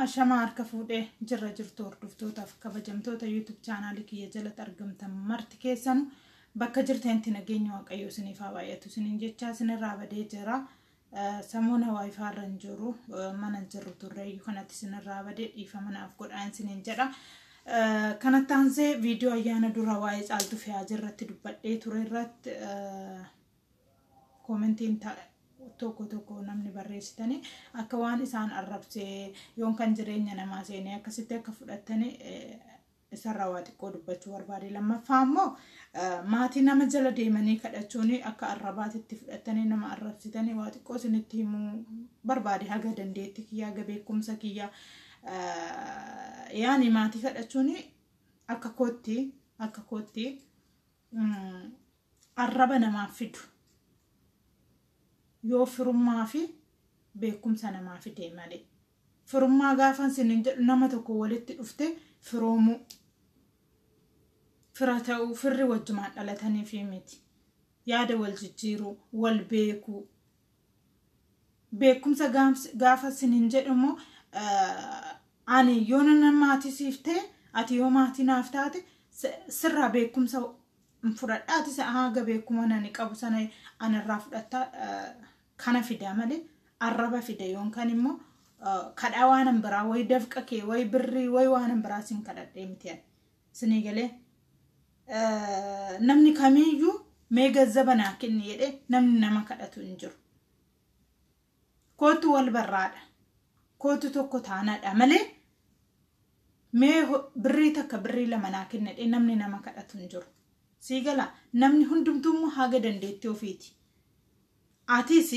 Ashamaa harka fuudhee jirra jirtu hordoftootaaf kabajamtoota YouTube chaanaalii kiyya jalatti argamtan marti keessanu bakka jirtanitti nageenya waaqayyoo isiniif haa baay'atu isiniin jechaa isinirraa badee jira. Samuuna waayifaa irra hin jiru mana hin jirru turreeyyu kanatti isinirraa badee dhiifama naaf godhaa isiniin jedha. Kanatti aansee viidiyoo ayyaana dura waa'ee caaltuu fi haajii irratti dubbadhee ture irratti Commentiin ta, tokko tokko namni barreessitani akka waan isaan arrabsee yoon kan jireenya namaa seenee akkasitti akka fudhattani isarraa waa xiqqoo dubbachuu barbaade lammaffaa immoo maatii nama jala deemanii kadhachuun akka arrabaatitti fudhattanii nama arrabsitanii waa xiqqoo isinitti himuu barbaade haga dandeetti kiyyaa haga beekumsa kiyyaa yaani maatii kadhachuun akka kootti akka kootti mm, arraba namaaf fidu yoo firummaa fi beekumsa namaa fidee malee firummaa gaafa isiniin jedhu nama tokko walitti dhufte firoomuu fira ta'uu firri wajjumaan dhalataniif miti yaada wal jijjiiruu wal beekuu beekumsa gaams- gaafa sin hin jedhu immoo eh, ani yoo nan maatii siif ta'e ati yoo maatii naaf taate si- sirraa beekumsa hin fudhadha ati sa- haga beekuma nani qabu sana anarraa fudhatta eh, kana fida malee arraba fida yoon kan immoo eh, kadhaa waanan biraa wayi dafqa kee wayi birrii wayi waanan biraa sin kadhadhee miti ani. Sinii galee namni kamiiyyuu mee gazzaba naa kenni jedhee namni nama kadhatu hin jiru. Kootu wal barraadha. Kootu tokko taanaadha malee mee birrii takka birrii lama naa kenni jedhee namni nama kadhatu hin jiru. Sii gala namni hundumtuu immoo haga dandeettii ofiiti. Atis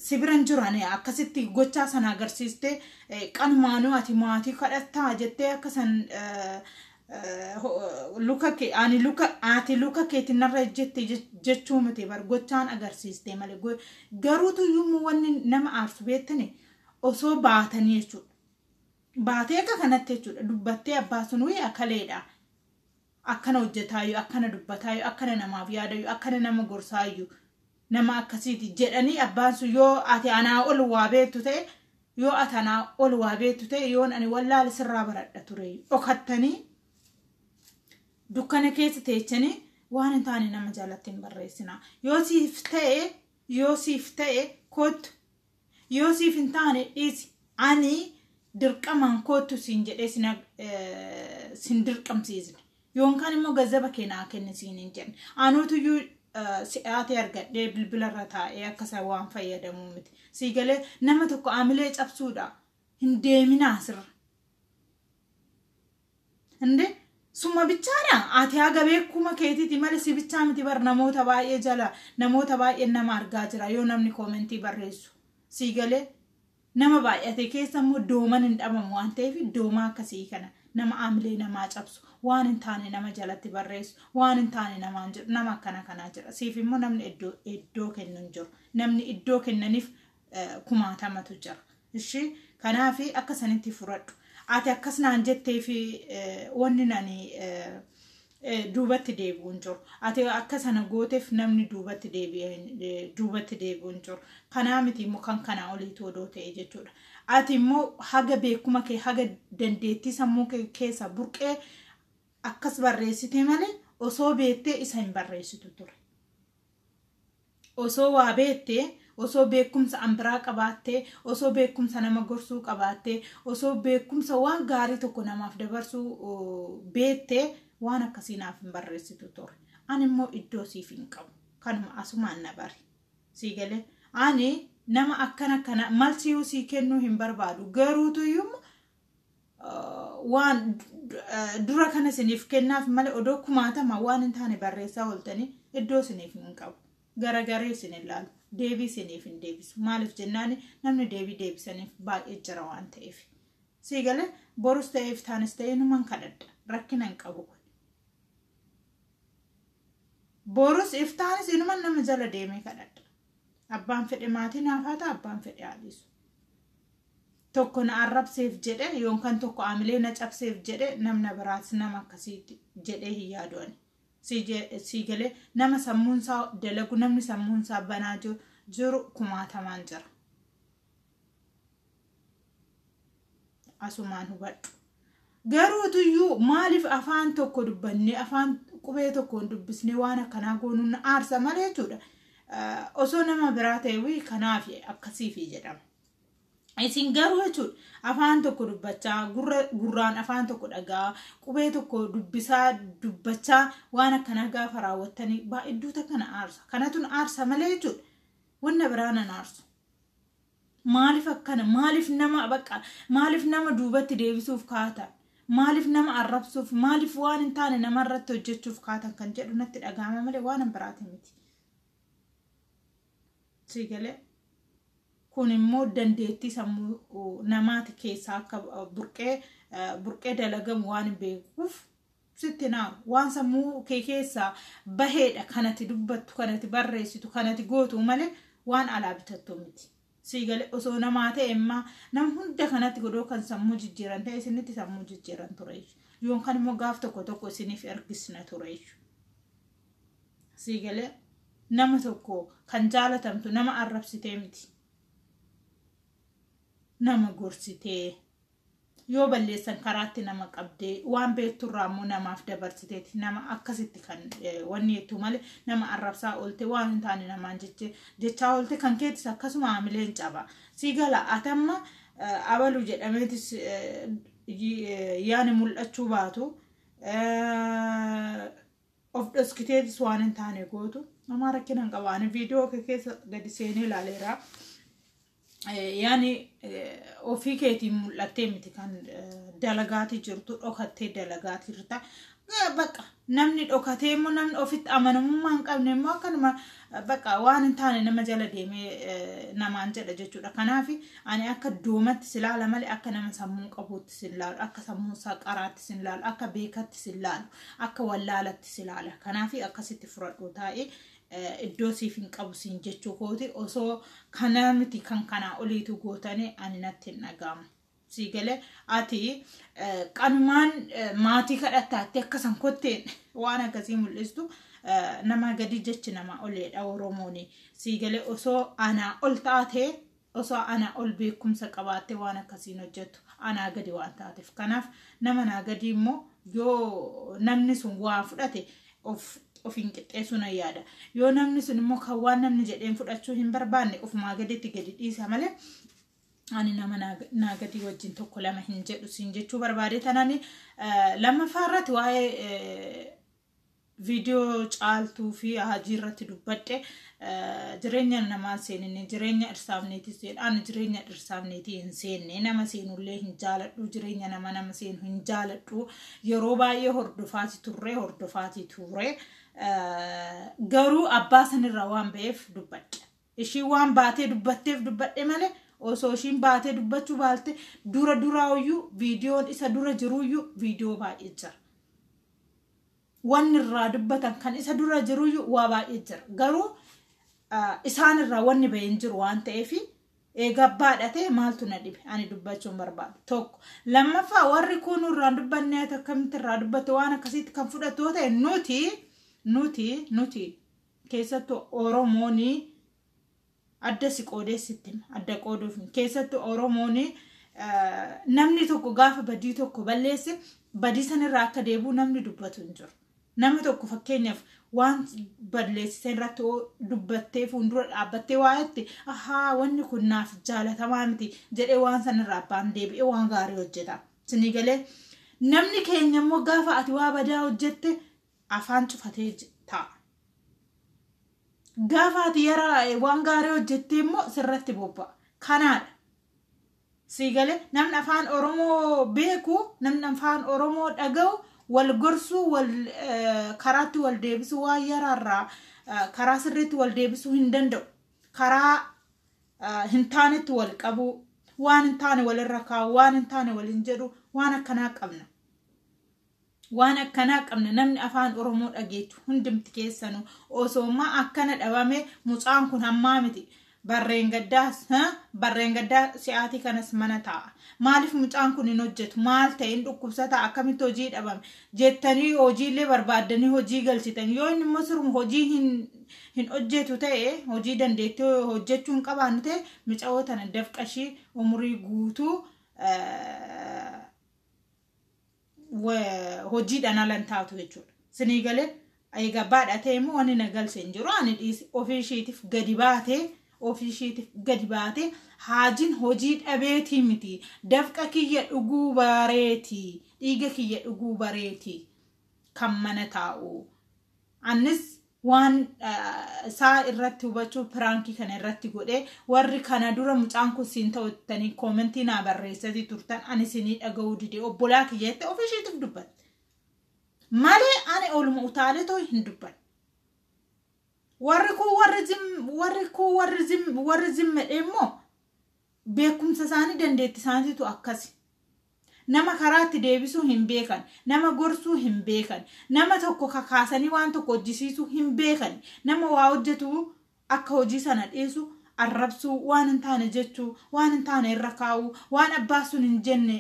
si bira hin jiran akkasitti gochaa sana agarsiistee eh, qanumaanuu ati maatii kadhattaa jettee akka san eh, eh, ho- luka kee ani luka ati luka keetiin narra ejjette je- jechuu miti bar gochaan agarsiistee malee Go- garuutu iyyuu wanni nama aarsu beektani osoo baatanii jechuudha baatee akka kanatti jechuudha dubbattee abbaa sun wayii akaleedha akkana hojjetaayyuu akkana dubbataayyuu akkana namaaf yaadayyuu akkana nama gorsaayyu nama akkasiiti jedhanii abbaan sun yoo ati anaa ol waa beektu ta'e yoo ati anaa ol waa beektu ta'e yoon ani wallaale sirraa baradha ture dhokattanii dukkana keessa teechanii waan hin taane nama jalatti hin barreessina yoo siif ta'e yoo siif ta'e kottu Yoo siif hin taane dhiisi. Ani dirqamaan koottu siin jedhee sin eh, sin dirqamsiisne. Yoonkaan immoo gazzaba kee naa kenni siin hin jenne. Anootuyyuu eh, si'aatee argadhee bilbila irra taa'ee akka isa waan fayyadamuu miti. Sii galee nama tokko amilee cabsuudha. Hin deeminaa sirra. እንዴ suma bichaadha ati haga beekuma keetiiti malee si bichaa miti bar namoota baay'ee jala namoota baay'een nama argaa jira yoo namni koomentii barreessu sii galee nama baay'ate keessa immoo dooman hin dhabamu waan ta'eef doomaa akkasii kana nama aamilee namaa cabsu waan hin taane nama jalatti barreessu waan hin taane namaan jedhu nama akkana kanaa jira siif immoo namni iddoo iddoo kennu hin jiru namni iddoo kennaniif kumaatamatu jira. Ishi kanaaf akka sanitti furadhu. Ati akkas naan jettee fi wanni nani duubatti deebi'uun jiru. Ati akka sana gooteef namni duubatti duubatti deebi'uun jiru. Kanaa miti immoo kan kanaa oliitu odoo ta'e jechuudha. Ati immoo haga beekuma kee haga dandeettii sammuu kee keessa burqee akkas barreessitee malee osoo beettee isa hin barreessitu ture. Osoo waa beettee, osoo beekkumsa an biraa qabaattee, osoo beekkumsa nama gorsuu qabaattee, osoo beekkumsa waan gaarii tokko namaaf dabarsuu beettee waan akkasii naaf hin barreessitu ture. Ani immoo iddoo siif hin qabu. Kanuma asumaan na bari. Sii galee ani nama akkana kana malsiyuu sii kennuu hin barbaadu. Garuutu iyyuu waan dura kana isiniif kennaaf malee odoo kumaatama waan hin taane barreessaa ooltanii iddoo isiniif hin qabu. Garagaree isin ilaalu. Deebii isiniif hin deebisu. Maaliif jennaan namni deebii deebisaniif baay'ee jira waan ta'eef. Sii galee borus ta'eef taanis ta'ee numan kadhadha. Rakkina hin qabu kun. Borus iftaanis inuman nama jala deemee kadhadha. Abbaan fedhe maatii naaf haa ta'a abbaan fedhe haa dhiisu. tokko na arrabseef jedhe yookaan tokko amilee na cabseef jedhe namna biraas nama akkasiitti jedhee hin yaadu ani. Sii galee nama sammuun isaa dalagu namni sammuun isaa banaa jiru kumaatamaan jira. Asumaan hubadhu. Garuu tuyyuu maaliif afaan tokko dubbannee afaan qubee tokkoon dubbisnee waan akkanaa goonuun na aarsa malee jechuudha. Osoo nama biraa ta'e wii kanaaf akkasiifi jedhama. Isin garuu jechuudha afaan tokko dubbachaa gurra gurraan afaan tokko dhagaa qubee tokko dubbisaa dubbachaa waan akkanaa gaafa raawwattanii baay'idduuta kana aarsa kanatun aarsa malee jechuudha wanna biraan an aarsu. Maaliif akkana maaliif nama baqa maaliif nama duubatti deebisuuf kaatan maaliif nama arrabsuuf maaliif waan hin taane namarratti hojjechuuf kaatan kan jedhu natti dhaga'ama malee waan hin biraati miti. Sii galee kun immoo dandeettii sammuu uh, namaati keessaa akka uh, burqee uh, burqee dalagamu waan hin beekuuf sitti naa waan sammuu kee keessaa baheedha kanati dubbattu kanati barreessitu kanati gootu malee waan alaa bitattu miti. Sii galee osoo namaa ta'e immaa nam hunda kanatti godoo kan sammuu jijjiiran ta'e isinitti sammuu jijjiiran ture jechuudha. Yoon kan immoo gaaf tokko tokko isiniif ergisna ture jechuudha. sii galee nama tokko kan jaalatamtu nama arrabsitee miti nama gorsitee yoo balleessan karaatti nama qabdee waan beekturraa immoo namaaf dabarsiteeti nama akkasitti kan eh, wanni jettu malee nama arrabsaa oolte waan hin taane namaan jeche jechaa oolte kan keetis akkasuma haamileen caba sii gala atamma eh, abalu jedhameetis eh, y- eh, yaani mul'achuu baatu eh, of dhoskiteetis waan hin taane gootu namaa rakkina hin qaba ani viidiyoo kee keessa gadi seenee ilaaleera yaani ofii keetiin mul'attee miti kan dalagaatii jirtu dhokattee dalagaatii jirta baqa namni dhokatee immoo namni ofitti amanamummaa hin qabne immoo akkanuma baqa waan hin taane nama jala deemee namaan jedha jechuudha kanaaf ani akka doomatti si laala malee akka nama sammuu qabuutti si laalu akka sammuu isaa qaraatti si laalu akka beekatti si laalu Akka wallaalatti si laala. Kanaafi akkasitti furadhu taa'e iddoo siif hin qabu siin jechuu kooti osoo kanaa miti kan kanaa oliitu gootanii ani natti hin dhaga'amu. Sii galee ati qanumaan maatii kadhattaatti akka san kotteen waan akkasii mul'istu namaa gadi jechi namaa oleedha Oromooni. Sii galee osoo anaa ol taatee Osoo anaa ol beekumsa qabaattee waan akkasii hin hojjettu. Anaa gadi waan taateef. Kanaaf nama naa gadii immoo yoo namni sun waa fudhate of ofiin qixxeessuu nan yaada. Yoo namni sun immoo kan waan namni jedheen fudhachuu hin barbaanne ofumaa gaditti gadi dhiisa malee ani nama naa gadii wajjin tokko lama hin jedhu siin jechuu barbaadee tanani lammaffaa irratti waa'ee viidiyoo caaltuu fi hajii irratti dubbadhe jireenya namaan seeninne jireenya dhirsaafneetii seedhaan jireenya dhirsaafneetii hin seenne nama seenullee hin jaaladhu jireenya nama nama seenu hin jaaladhu yeroo baay'ee hordofaati turre hordofaati ture garuu abbaa sanirraa waan ba'eef dubbadhe ishii waan baatee dubbatteef dubbadhe malee osoo ishiin baatee dubbachuu baalte dura duraayyuu viidiyoon isa dura jiruyyuu viidiyoo baay'ee jira. wanni irraa dubbatan kan isa dura jiruyyuu waa baay'ee jira garuu isaan irraa wanni bahee hin jiru waan ta'eef eegaa baadhatee maaltu na dhibe ani dubbachuun barbaadu tokko lammaffaa warri kun irraan dubbanne ati akkamitti irraa dubbatte waan akkasiitti kan fudhattu yoo ta'e nuti nuti nuti keessattuu oromoonii Adda si qoodee sitti hima. Adda qooduuf miti. Keessattuu Oromoon namni tokko gaafa badii tokko balleesse badii sanirraa akka deebi'u namni dubbatu hin jiru. Nama tokko fakkeenyaaf waan balleessite irratti yoo dubbattee fuuldura dhaabbattee waa jette ahaa wanni kun naaf jaalatamaa miti jedhee waan sanirraa abbaan deebi'ee waan gaarii hojjeta. Sinii galee namni keenya immoo gaafa ati waa badaa hojjette afaan cufatee j- taa'a. Gaafa ati yara waan gaarii hojjettee immoo sirratti bobba'a. Kanaadha. Sii galee namni afaan Oromoo beeku, namni afaan Oromoo dhaga'u wal gorsuu, wal eh, karaatti wal deebisuu waan yaraarraa eh, karaa sirriitti wal deebisuu hin danda'u. Karaa eh, hin taanetti wal qabuu, waan hin taane walirra kaa'u, waan hin taane waliin jedhu, waan akkanaa qabna. Waan akkanaa qabna namni afaan oromoo dhageechu hundumti keessanu osooma akkana dhabame mucaan kun hammaa miti barreen gaddaa ha? barreen gaddaa si'aatii kanas mana taa'a maaliif mucaan kun hin hojjetu maal ta'e hin dhukkubsataa akkamitti hojii dhabame jettanii hojiillee barbaaddanii hojii galchitan yoo inni immoo siruma hojii hin hin hojjetu ta'e hojii dandeettii hojjechuu hin qabaannu ta'e micawoo tana dafqashii umurii guutuu eh, wa- hojiidhaan ala hin taatu jechuudha. Sinii galee egaa baadhatee immoo wanni na galche hin jiru ani dhiisi ofii ishiitiif gadi baatee ofii ishiitiif gadi baatee haajiin hojii dhabeetii miti dafqa kiyya dhuguu bareeti dhiiga kiyya dhuguu bareeti kan mana taa'u Annis waan isaa irratti hubachuuf piraankii kana irratti godhe warri kana dura mucaan kun siin ta'u jettanii koomentii naa barreessatii turtan ani siinii dhaga'uu dide obbolaa kiyya jette ofii ishiitiif dubbatte. Malee ani ooluma utaalee too hin dubbanne. Warri kun warri zim warri kun warri zim warri zim jedhee immoo beekumsa isaanii dandeetti isaaniitu akkasi. Nama karaatti deebisuu hin beekan. Nama gorsuu hin beekan. Nama tokko kakaasanii waan tokko hojjisiisuu hin beekan. Nama waa hojjetu akka hojii sana dhiisu arrabsuu, waan hin taane jechuu, waan hin taane irra kaa'uu, waan abbaan sun hin jenne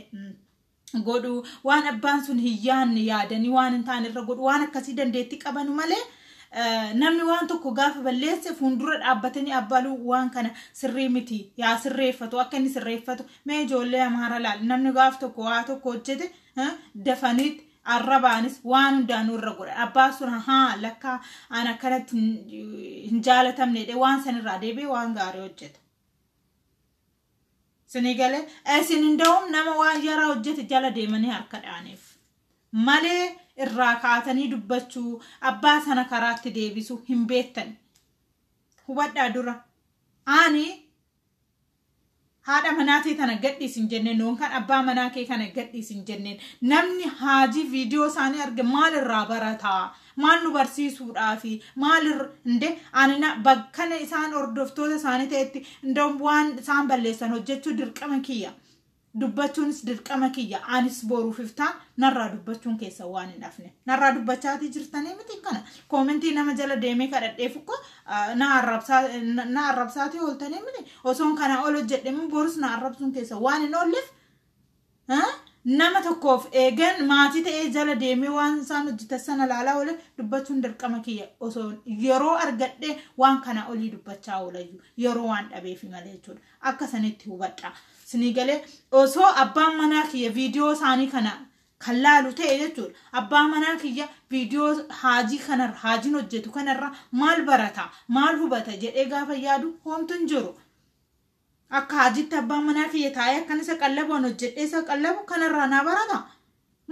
godhuu, waan abbaan sun hin yaadne yaadanii waan hin taane irra godhuu, waan akkasii dandeettii qabanu malee Namni waan tokko gaafa balleesse fuuldura dhaabbatanii abbaluu waan kana sirrii miti yaa sirreeffatu akka inni sirreeffatu mee ijoollee amaara laal namni gaaf tokko waa tokko hojjete dafaniitti arrabaanis waan hundaanuu irra godha abbaan sun haa lakkaa an akkanatti hin jaalatamne waan sanirraa deebi'ee waan gaarii hojjeta. Sinii galee isin inda'uun nama waan yaraa hojjete jala deemanii harka dhaaniif malee irraa kaatanii dubbachuu abbaa sana karaatti deebisu hin beektan hubadhaa dura ani haadha manaa tee tana gadhiis hin jenneen yookaan abbaa manaa kee kana gadhiis hin jenneen namni haajii viidiyoo isaanii arge maal irraa barataa Maal nu barsiisuudhaafi? Maal irra inde ani na bakkana isaan hordoftoota isaanii ta'etti indoom waan isaan balleessan hojjechuu dirqama kiyya. Dubbachuunis dirqama kiyya. Anis boruuf iftaan narraa dubbachuun keessa waan hin hafne. Narraa dubbachaatii jirtanii miti kana. Koomentii nama jala deemee kadhadheef ukkoo na arrabsaa na arrabsaatii ooltanii miti. Osoon kana ol hojjedhe immoo borus na arrabsuun keessa waan hin oolleef nama tokkoof eegan maatii ta'ee jala deemee waan isaan hojjetan sana ilaalaa oole dubbachuun dirqama kiyya osoo yeroo argadhe waan kana olii dubbachaa oolayyu yeroo waan dhabeefi malee jechuudha akka sanitti hubadha sinii galee osoo abbaan manaa kiyya viidiyoo isaanii kana kan laalu ta'e jechuudha abbaa manaa kiyya viidiyoo haajii kanarra haajiin hojjetu kanarra maal barata maal hubata jedhee gaafa yaadu hoomtu hin jiru. Akka haajiitti abbaan manaa kiyya taa'ee akkan isa qallabu an hojjedhee isa qallabu kanarraa naa barata.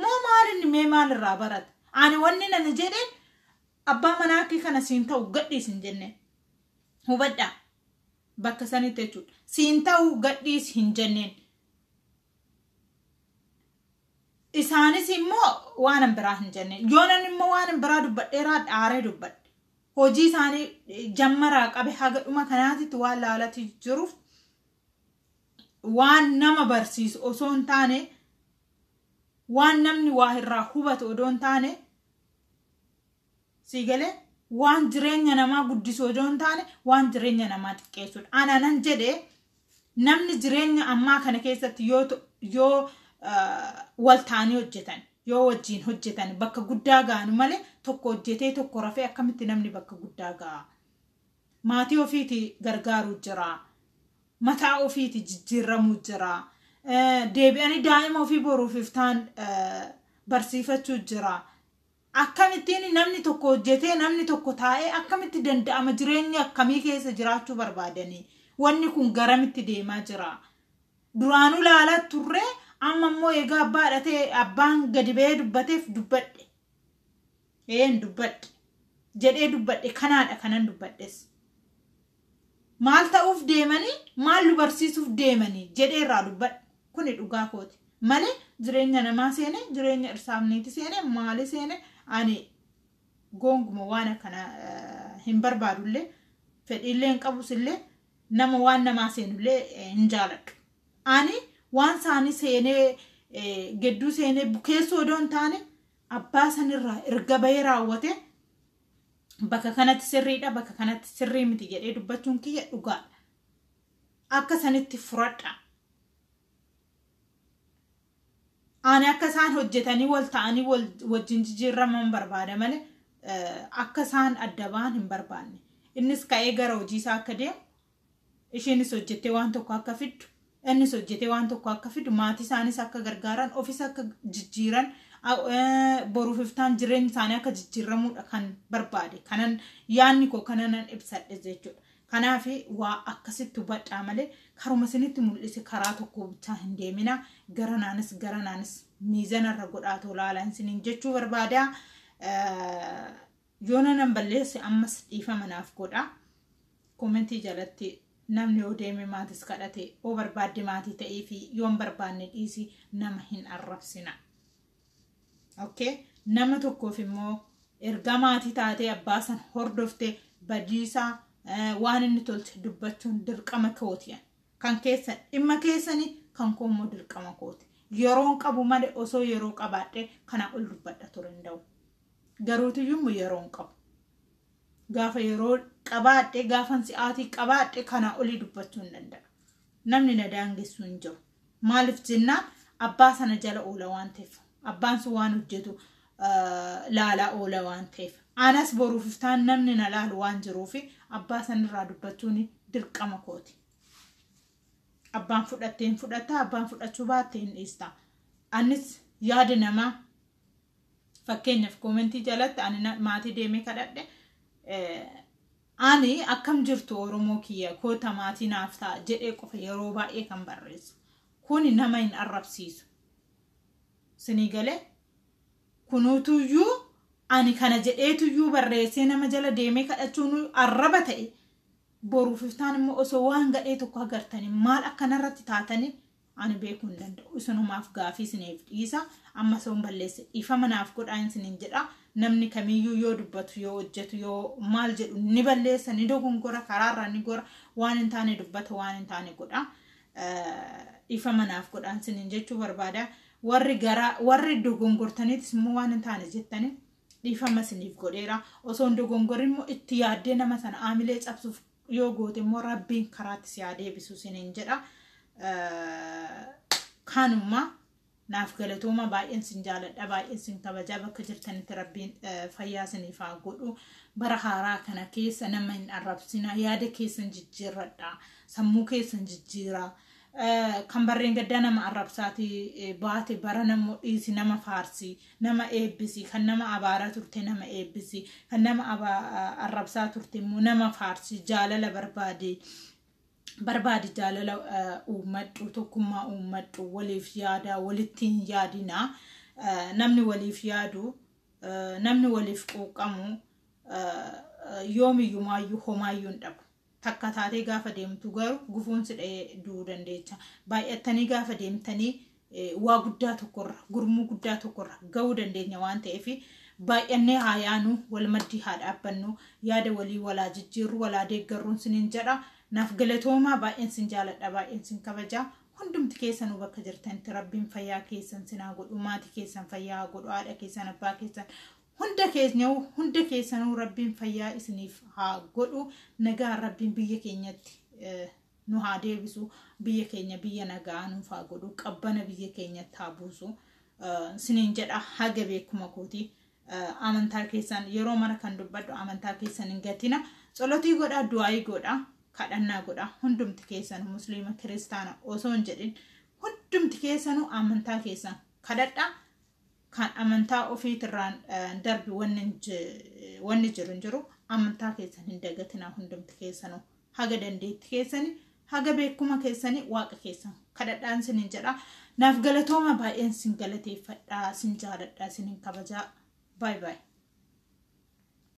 Moo maal inni mee maal irraa barata? Ani wanni nani jedhe abbaa manaa kee kana siin ta'u gadhiis hin jenne. Hubadhaa bakka sanitti jechuudha. Siin ta'u gadhiis hin jenneen. Isaanis immoo waan biraa hin jenne. Yoonan immoo waan biraa dubbadheeraa dhaaree dubbadhe. hojii isaanii jammaraa qabe haga dhuma kanaatitti waan laalati jiruuf waan nama barsiisu osoo hin taane waan namni waa irraa hubatu odoo hin taane sii galee waan jireenya namaa guddisuu odoo hin taane waan jireenya namaa xiqqeessuudha. Ana nan jedhe Namni jireenya ammaa kana keessatti yoo to- yoo ah, wal ta'anii hojjetan yoo wajjiin hojjetan bakka guddaa ga'anu malee tokko hojjetee tokko rafee akkamitti namni bakka guddaa ga'a. Maatii ofiiti gargaaruu jira. Mataa ofiiti jijjiiramuu jira. Eh, Deebi'anii daa'ima ofii boruuf iftaan eh, barsiifachuu jira. Akkamittiin namni tokko hojjetee namni tokko taa'ee akkamitti danda'ama jireenya akkamii keessa jiraachuu barbaadanii wanni kun garamitti deemaa jira duraanuu laalaa turree amma immoo egaa abbaa dhatee abbaan gadi ba'ee dubbateef dubbadhe een dubbadhe jedhee dubbadhe kanaadha kanan dubbadhes. Maal ta'uuf deemanii maal nu barsiisuuf deemanii jedhee irraa dubbadhe. Kuni dhugaa kooti. Malee jireenya namaa seene jireenya irsaamneeti seene maali seene ani goonguma waan akkana hin barbaadullee fedhiillee hin qabusillee nama waan namaa seenullee hin jaaladhu. Ani waan isaanii seenee gedduu seenee bukeessuu odoo hin taane abbaa sanirraa erga bahee raawwatee bakka kanatti sirriidha bakka kanatti sirrii miti jedhee dubbachuun kiyya dhugaadha akka sanitti furadha ani akka isaan hojjetanii wal ta'anii wajjin jijjiirraman barbaada malee akka isaan adda ba'an hin barbaanne innis ka'ee gara hojii isaa akka deemu Isheenis hojjettee waan tokko akka fiddu, innis hojjetee waan tokko akka fidu, maatii isaanis akka gargaaran, ofis akka jijjiiran, boruuf iftaan jireenyi isaanii akka jijjiirramuudha kan barbaade. Kanan yaanni koo kananan ibsadhe jechuudha. Kanaaf waa akkasitti hubadhaa malee karuma isinitti mul'ise karaa tokko bichaa hin deemina. Garanaanis garanaanis miizanarra godhaatoo laalaan isiniin jechuu barbaada. Yoona nan balleesse ammas dhiifama naaf godha. Koomentii jalatti namni yoo deeme maatis kadhate yoo barbaadde maatii ta'ii fi yoon barbaanne dhiisi nama hin arrabsina. Okay? Nama tokkoof immoo erga maatii taatee abbaa san hordofte badiisaa eh, waan inni tolche dubbachuun dirqama kooti. Kan keessan dhimma keessanii kan koo immoo dirqama kooti. Yeroon qabu malee osoo yeroo qabaadhe kana ol dubbadha ture hin da'u. Garuutiyyuu yeroo hin qabu. Gaafa yeroo qabaadhe gaafan si'aatii qabaadhe kanaa olii dubbachuu hin danda'a. Namni na daangessuu hin jiru. Maaliif jennaan abbaa sana jala oola waan ta'eef. Abbaan sun waan hojjetu laalaa oola waan ta'eef. Anas boruuf iftaan namni na laalu waan jiruuf abbaa sanirraa dubbachuun dirqama kooti. Abbaan fudhattee hin fudhatta, abbaan fudhachuu baatte hin dhiista. Anis yaada namaa Fakkeenyaaf koomentii jalatti ani na- maatii deemee kadhadhe eh, ani akkam jirtu Oromoo kiyya koota maatii naaf ta'a jedhee qofa yeroo baay'ee kan barreessu. Kuni nama hin arrabsiisu. Sinii galee kunuutuyyuu ani kana jedheetuyyuu barreessee nama jala deemee kadhachuun arraba ta'e boruuf iftaan immoo osoo waan gadhee tokko agartanii maal akkanarratti taatanii ani beekuu hin danda'u isinumaaf gaafii isiniif dhiisa amma soon balleesse dhiifama naaf godhaa hin sinin jedha namni kamiyyuu yoo dubbatu yoo hojjetu yoo maal jedhu ni balleessa ni dogongora karaarra ni gora waan hin taane dubbata waan hin taane godha dhiifama naaf godhaa hin sinin jechuu barbaada warri gara warri dogongortaniitis immoo waan hin taane jettanii dhiifama isiniif godheera osoo hin dogongorin immoo itti yaaddee nama sana aamilee cabsuuf yoo goote immoo rabbiin karaatti si haa deebisu sinin jedha kanuma naaf galatooma baay'een sin jaaladha baay'een sin kabajaa bakka jirtanitti rabbiin fayyaa siniif haa godhu bara haaraa kana keessa nama hin arrabsina yaada keessan jijjiirradha sammuu keessan jijjiiraa kan barreen gaddaa nama arrabsaati baate bara nammoo dhiisi nama faarsi nama eebbisi kan nama abaaraa turte nama eebbisi kan nama arrabsaa turte immoo nama faarsi jaalala barbaade barbaadi jaalala uummadhu tokkummaa uummadhu waliif yaadaa walitti hin yaadinaa namni waliif yaadu namni waliif quuqqamu yoomiyyumaayyuu homaayyuu hin dhabu takka taatee gaafa deemtu garuu gufuun si dha'ee du'uu dandeecha. Baay'attanii gaafa deemtanii waa guddaa tokkorra gurmuu guddaa tokkorra ga'uu dandeenya waan ta'eef baay'annee haa yaanu wal maddii haa dhaabbannu yaada walii walaa jijjiirru walaa deeggarruun sinin jedha naaf galatoomaa baay'een sin jaaladha baay'een sin kabaja hundumti keessanuu bakka jirtanitti rabbiin fayyaa keessan sinaa godhu maatii keessan fayyaa godhu haadha keessan abbaa keessan Hunda keenyahu hunda keessanuu rabbiin fayyaa isiniif haa godhu nagaan rabbiin biyya keenyatti eh, nu haa deebisu biyya keenya biyya nagaa nuuf haa godhu qabbana biyya keenyatti haa buusu Eh, siniin jedha haga beekuma kooti Eh, amantaa keessan yeroo mara kan dubbadhu amantaa keessan hin gatina tsolotii godhaa du'aayii godhaa kadhannaa godhaa hundumti keessan musliima kiristaana osoo hin jedhin hundumti keessanuu amantaa keessan kadhadhaa Kan amantaa ofiitirraan darbi wanni jiru hin jiru amantaa keessan hin dagatinaa hundumti keessanuu haga dandeetti keessani haga beekuma keessani waaqa keessan kadhadhaan sin hin jedha naaf galatooma baay'een sin galateeffadhaa sin jaaladhaa sin hin kabajaa baay baay.